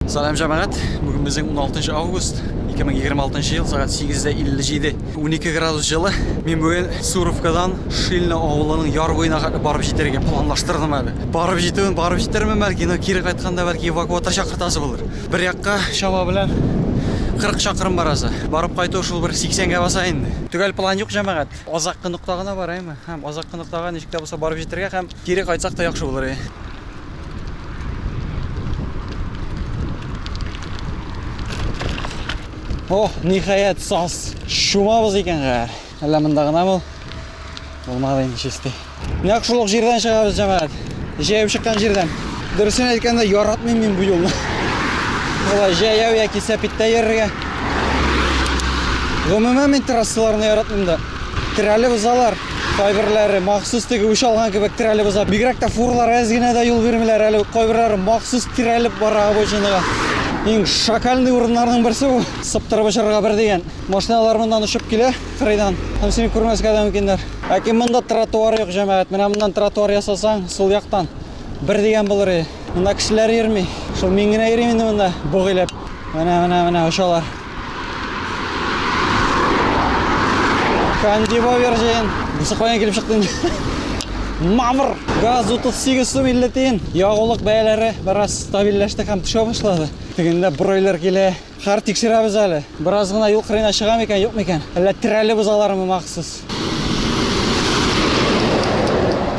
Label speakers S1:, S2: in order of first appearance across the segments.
S1: Салам җәмәгать! Бүген безнең 16 август 2026 ел, сәгать 8:57. 12 градус җылы. Мин бүген Суровкадан Шильно авылының яр буена хәтле барып җитәргә планлаштырдым әле. Барып җитүен барып җитермен бәлки, но кире кайтканда бәлки эвакуатор чакыртасы булыр. Бер якка чама белән 40 чакрым барасы. Барып кайту шул бер 80 гә баса инде. Төгәл план юк, җәмәгать. Азаккы нокта гына бар, әйме? Һәм азаккы ноктага ничек тә булса барып җитәргә һәм Кире кайтсак та яхшы булыр иде. О, ниһаять, саз. Шумабыз икән гәр. Әллә монда гына бул? Булмады инде чисти. Нәкъ шул ук җирдән чыгабыз, җәмәгать. Җәяү чыккан җирдән. Дөресен әйткәндә, яратмыйм мин бу юлны. Болай җәяү яки сәпиттә йөрергә. Гомумән мин трассаларны яратмыйм да. Терәлеп узалар. Кайберләре махсус теге үч алган кебек терәлеп уза. Бигрәк тә фурлар әз генә дә юл бирмиләр әле. Кайберләре махсус терәлеп бара обочинага. Иң шакальный урыннарның берсе бу. Сыптырып очырырга бер дигән. Машиналар моннан очып килә, кырыйдан. Һәм сине күрмәскә дә мөмкиннәр. Ләкин монда тротуар юк, җәмәгать. Менә моннан тротуар ясасаң, сул яктан. Бер дигән булыр иде. Монда кешеләр йөрми. Шул мин генә йөрим инде монда бугыйлап. Менә, менә, менә очалар. Кандиба вержин. Бусы каян килеп чыкты инде? Мамыр! Газ 38 сум 50 тиен. Ягулык бәяләре бераз стабильләште һәм төшә башлады. Тегендә бройлер килә. Хәр тикшерәбез әле. Бераз гына юл кырыена чыга микән, юк микән? Әллә терәле бозалармы махсус?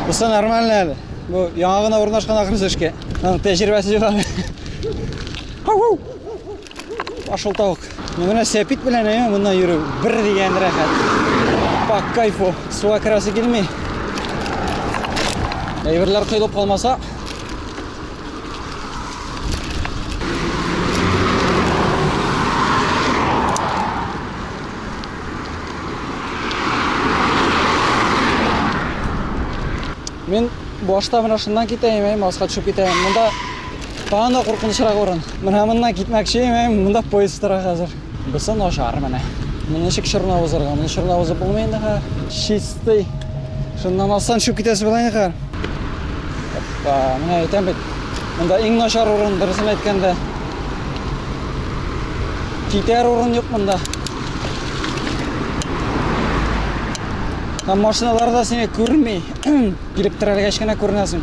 S1: Бусы нормально әле. Бу яңа гына урнашкан ахрысы эшкә. Аның тәҗрибәсе юк әле. Ашылтавык. Менә сәпит белән әйе моннан йөрү бер дигән рәхәт. По кайфу. Суга керәсе килми. Әйберләр коелып калмаса. Мин башта менә шуннан китәем, әйе, маска төшеп китәем. Монда Тагын да куркынычрак урын. Менә моннан китмәкче мен, монда поезд тора хәзер. Бусы начар менә. Моны ничек чорнап узарга? Моны чорнап узып булмый инде хәзер. Чистый. Шуннан алсаң төшеп китәсе була инде хәзер. Оппа, менә әйтәм бит. Монда иң начар урын, дөресен әйткәндә. Китәр урын юк монда. Һәм машиналар да сине күрми. Килеп терәлгәч кенә күренәсең.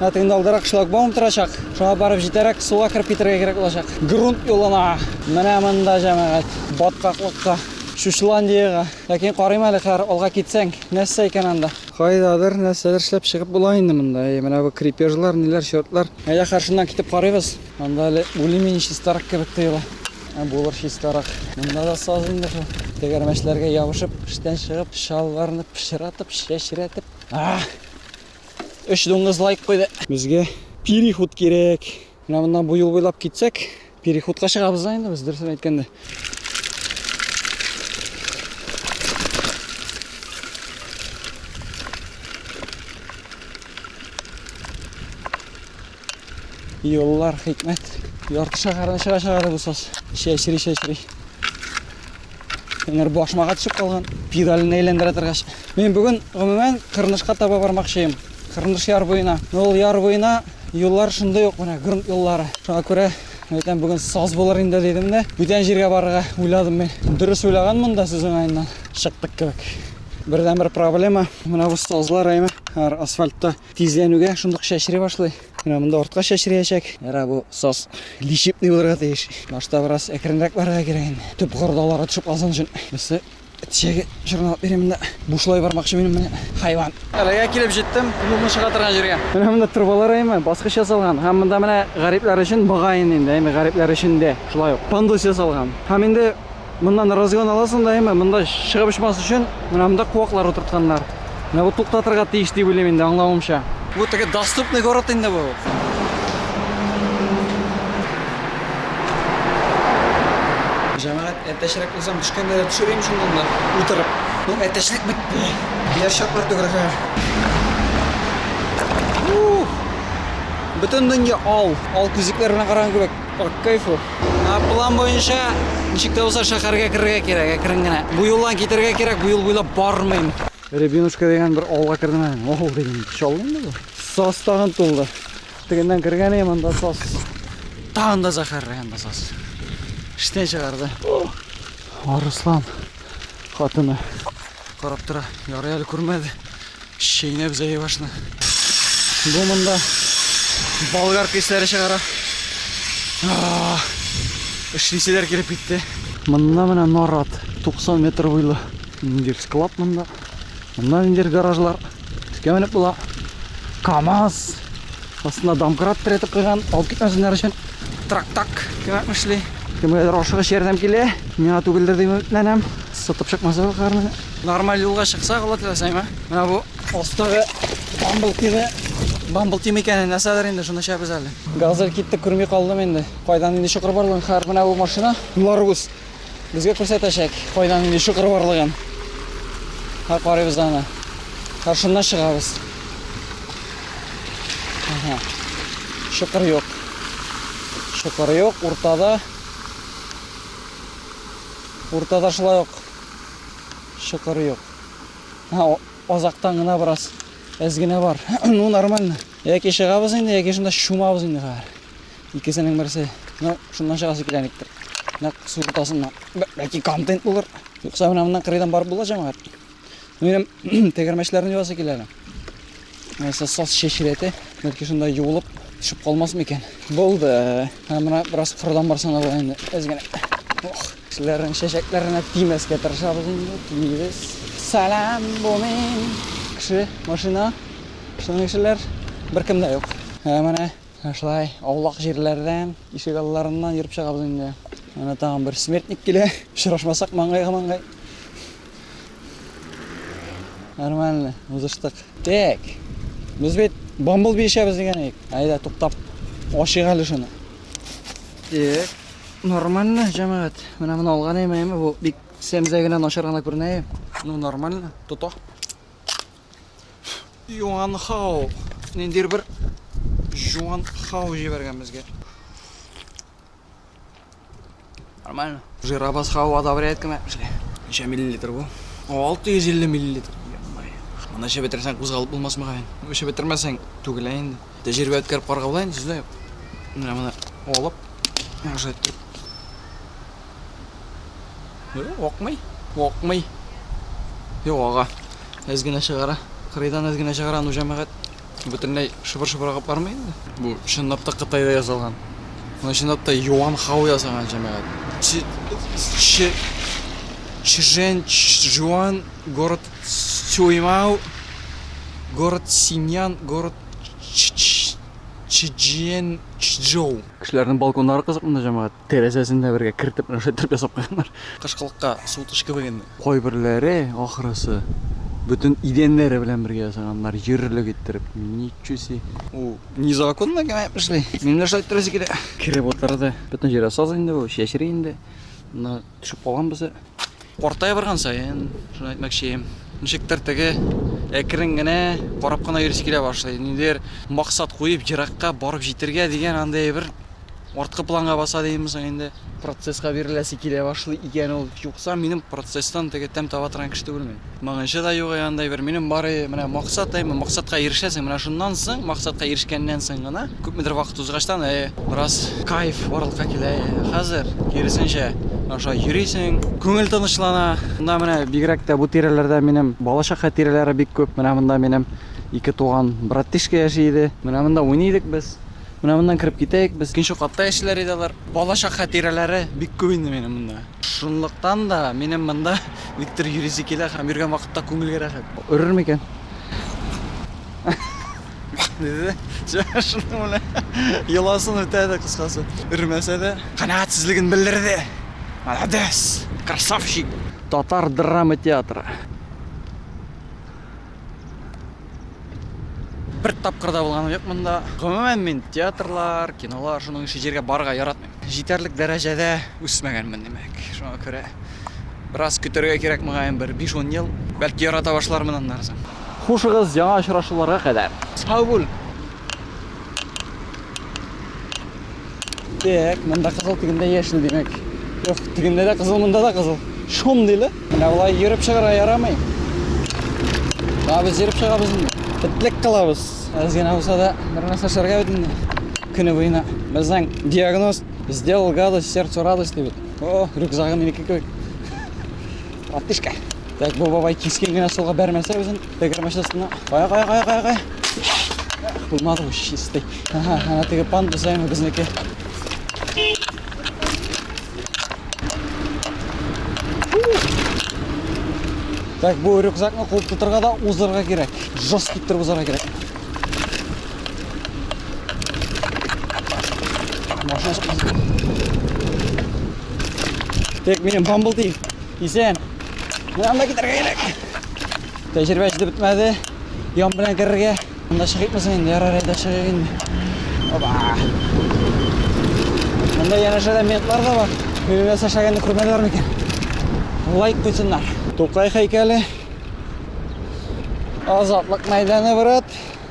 S1: Хәтта инде алдарак шлагбаум торачак. Шуңа барып җитәрәк суга кереп китәргә кирәк булачак. Грунт юлына. Менә монда җәмәгать. Баткаклыкка. Шушландиягә. Ләкин карыйм әле хәзер алга китсәң, нәрсә икән анда? Кайдадыр нәрсәдер эшләп чыгып була инде монда. Әйе, менә бу крепежлар, ниләр, счетлар. Әйдә, хәзер шуннан китеп карыйбыз. Анда әле более-менее чистарак кебек тоела. Булыр чистарак. Монда да саз инде шул. Тегәрмәчләргә ябышып, эштән чыгып, чалбарны пычратып, чәчрәтеп. Өч дуңгыз лайк куйды. Безгә переход кирәк. Менә моннан бу юл буйлап китсәк, переходка чыгабыз да инде без, дөресен әйткәндә. Юллар хикмәт. Ярты шәһәрне чыга-чыга бусас. Чәчри-чәчри. Әнер башмага төшеп калган. Педален әйләндерә торгач. Мин бүген гомумән Кырнышка таба бармакчыйм. Кырныш яр буена. Ул яр буена юллар шундый ук менә грунт юллары. Шуңа күрә әйтәм бүген саз булыр инде дидем дә, бүтән җиргә барырга уйладым мин. Дөрес уйлаганмын да сүз уңаеннан. Чыктык кебек. Бердәнбер проблема менә бу сазлар әйме. Асфальтта Тизләнүгә шундук чәчри башлый. Менә монда артка чәчриячәк. Ярар, бу саз лишипный булырга тиеш. Башта бераз әкренрәк барырга кирәк инде. Төп кордалары төшеп калсын өчен. Берсе чәге чорналап бирәм монда. Бушлай бармакчы минем менә хайван. Әлегә килеп җиттем, юлны чыга торган җиргә. Менә монда трубалар әйме, баскыч ясалган. Һәм монда менә гарипләр өчен мөгаен инде, әйме гарипләр өчен дә шулай ук пандус ясалган. Һәм инде Моннан разгон аласың да әмма монда чыгып очмас өчен менә монда куаклар утыртканнар. Менә бу туктатырга тиеш дип уйлыйм инде аңлавымча. Бу теге доступный город инде бу. Җәмәгать әтәчрәк узам төшкәндә дә төшерим шуннан да утырып. Ну әтәчлек бетте. Яр чаклар төгергә. Бөтен дөнья ал, ал күзлекләр белән караган кебек. Ак кайфу. План буенча ничек тә булса шәһәргә керергә кирәк, әкрен генә. Бу юлдан китергә кирәк, бу юл буйлап бармыйм. Рябинушка дигән бер авылга кердем әле. Ох, дигән, чалынды бу. Сас тагын тулды. Тегеннән кергән идем, анда сас. Тагын да зәһәрле анда сас. Эштән чыгарды. Арыслан хатыны карап тора. Ярый әле күрмәде. Чәйнәп заебашны. Бу монда болгар кисләре чыгара. Эшлиселәр килеп китте. Монда менә нарат 90 метр буйлы ниндер склад монда. Монда ниндер гаражлар. Өскә менеп була. КАМАЗ Астына домкрат терәтеп куйган, алып китмәсеннәр өчен трактак кемәк эшли. Кемгәдер ашыгыч ярдәм килә, миңа түгелдер дип өметләнәм. Сытып чыкмаса карны. Нормаль юлга чыксак, Алла теләсә, менә бу астагы бамбл тиме, бамбл тим икәнен нәрсәдер инде шуны чәбез әле. Газель китте, күрми калдым инде. Кайдан инде чокыр барлыгын хәер менә бу машина. Ларгус Безгә күрсәтәчәк, кайда нинди чокыр барлыгын. Һәр карыйбыз аны. Каршына чыгабыз. Ага. Чокыр юк. Чокыр юк, уртада. Уртада шулай ук чокыр юк. Ага, азактан гына бераз әз генә бар. ну, нормально. Яки чыгабыз инде, яки шунда чумабыз инде хәзер. Икесенең берсе, ну, шуннан чыгасы килә никтер. Нәк су уртасында бәлки контент булыр. Юкса менә моннан кырыйдан барып була җәмәгать. Минем тәгәрмәчләрне юасы килә әле. Нәрсә сас шешрәте, бәлки шунда юылып төшеп калмас микән? Булды. Һәм менә бераз кырыдан барсаң да була инде. Әз генә. Ох, кешеләрнең чәчәкләренә тимәскә тырышабыз инде, тимибез. Салам, бу мин. Кеше, машина, шуның кешеләр беркем дә юк. Ә менә Менә шулай аулак җирләрдән, ишек алларыннан йөреп чыгабыз инде. Менә тагын бер смертник килә. Очрашмасак маңгайга маңгай. Нормально, узыштык. Так. Без бит бамбл бишәбез дигән идек. Айда туктап ашыйк әле шуны. Так. Нормально, җәмәгать. Менә моны алган әйме, бу бик сәмзә генә начар гына күренә. Ну нормально, тота. Юан Хао. Ниндидер бер Юан Хао җибәргән безгә. Нормально. Жирабас Хао одобряет кеме? Ничә миллилитр бу? 650 миллилитр. Аны эчеп бетерсәң кузгалып булмас мөгаен. Эчеп бетермәсәң түгелә инде. Тәҗрибә үткәреп карга була инде сездә. Менә моны алып, уже Юк, акмый. Акмый. Юк, ага. Әз генә чыгара. Кырыйдан әз генә чыгара, ну җәмәгать бөтенләй шыбыр-шыбыр агып бармый инде. Бу чынлап та Кытайда язылган. Моны чынлап та Юан Хао язган җәмәгать. Чжэн Чжуан, город Цюймау, город Синьян, город Чжэн Чжоу. Кешеләрнең балконнары кызык монда җәмәгать. Тәрәзәсен дә бергә кертеп рәшәтләп ясап куйганнар. Кышкылыкка суытучы кебек инде. Кайберләре, ахрысы, бөтен идәннәре белән бергә ясаганнар, җирлек иттереп. Ничу си. Бу незаконно гына эшли. Минем дә шулай иттерәсе килә. Кереп утырды. Бөтен җиргә саз инде бу, чәчри инде. Төшеп калган безе. Картая барган саен, шуны әйтмәкчем. Ничектер теге әкрен генә карап кына йөрисе килә башлый. Ниндидер максат куеп, еракка барып җитергә дигән андый бер арткы планга баса димме соң инде. Процесска биреләсе килә башлый икән ул. Юкса минем процесстан теге тәм таба торган кеше түгел мин. Моңынчы да юк ягындай бер. Минем бары менә максат, әйме, максатка ирешәсең, менә шуннан соң, максатка ирешкәннән соң гына, күпмедер вакыт узгачтан, әйе, бераз кайф барлыкка килә, әйе. Хәзер, киресенчә, менә шулай йөрисең, күңел тынычлана. Монда менә бигрәк тә бу тирәләрдә минем балачакка тирәләре бик күп. Менә монда минем ике туган братишка яши иде. Менә монда уйный идек без. Менә моннан кереп китәек без. Икенче катта яшиләр иде алар. Балачакка тирәләре бик күп инде минем монда. Шунлыктан да минем монда никтер йөрисе килә һәм йөргән вакытта күңелгә рәхәт. Өрер микән? Диде. Шуның белән йоласын үтәде кыскасы. Өрмәсә дә канәгатьсезлеген белдерде. Молодец! Красавчик! Татар драма театры. Бер тапкыр да булганым юк монда. Гомумән мин театрлар, кинолар шуның өчен җиргә барырга яратмыйм. Җитәрлек дәрәҗәдә үсмәгәнмен, димәк. Шуңа күрә бераз көтәргә кирәк мөгаен, бер 5-10 ел. Бәлки ярата башлармын аннан соң. Хушыгыз, яңа очрашуларга кадәр. Сау бул! Так, монда кызыл тигендә яшел димәк. Юк, тигендә дә кызыл, монда да кызыл. Шом диле. Менә болай йөреп чыгарга ярамый. Да без йөреп чыгабыз инде. Битлек кылабыз. Аз генә булса да бер нәрсә эшләргә бит инде. Көне буена. Безнең диагноз сделал гадость, сердцу радость дип. О, рюкзагы минеке кебек. Ратышка. Так, бу бабай кискен генә суга бәрмәсә үзен. Тегер машинасына. Кая, кая, кая, кая, кая. Булмады бу чистый. Ага, ана теге пан бузаймы безнеке. Так, бу рюкзакны куып тотырга да узырга кирәк. Жест киттереп узарга кирәк. Машина Тек минем бамбл дейв. Исән. Менә анда китәргә кирәк. Тәҗрибә җитеп бетмәде. Ян белән керергә. Монда чыгыйкмы соң инде? Ярар әйдә чыгыйк инде. Оба. Монда янәшәдә ментлар да бар. Бирелә сәшәгәнне күрмәделәр микән? Лайк куйсыннар. Тукай һәйкәле. Азатлык мәйданы, брат.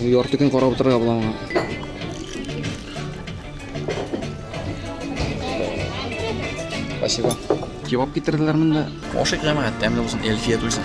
S1: Ярты көн карап утырырга була моңа. Спасибо. Кебаб китерделәр монда. Ашык җәмәгать, тәмле булсын, Эльфия туйсын.